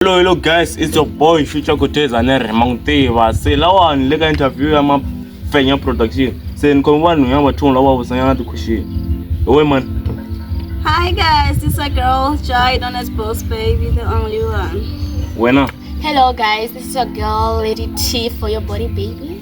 hello hello guys it's your boy future kuteza ne rhema n'wi tiva se lawani le ka interview ya mafenya production se ni khome vanhu ya vathungu lava vusanyana ti-question hi we mani Hi guys, it's a girl, Joy, known as Boss Baby, the only one. wena Hello guys, this is your girl Lady T for your body baby.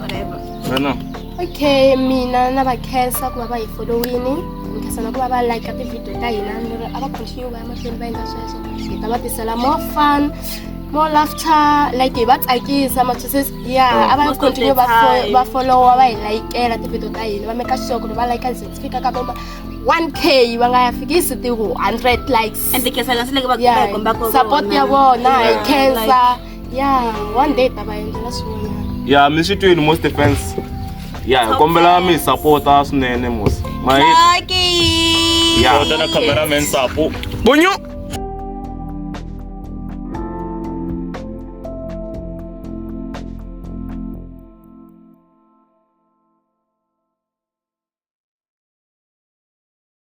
whatever Rena. okay mina na va khensa ku va va hi followini ni khensa na ku va va like ti-video ta hina ni ri a va continue va ya mahlweni va endla sweswo hi ta va tisela more fun more laughter like hi va tsakisa matswisisi ya a va Most of continue the va fo- time. va followa va hi layikela ti-video ta hina va meka sure ku ri va layika ze ti fika ka voma 1k va nga ya fikisi ti-hundred likes and the kesa kasi leke va Yeah, komba ko support ya vona hi Yeah. khensa ya one day ta va endlela swin'wanyana ya mi swi twini most defense ya hi kombela mi hi sapota swinene mos ma hi Lucky. ya Kota na cameraman Sapo. Bunyu.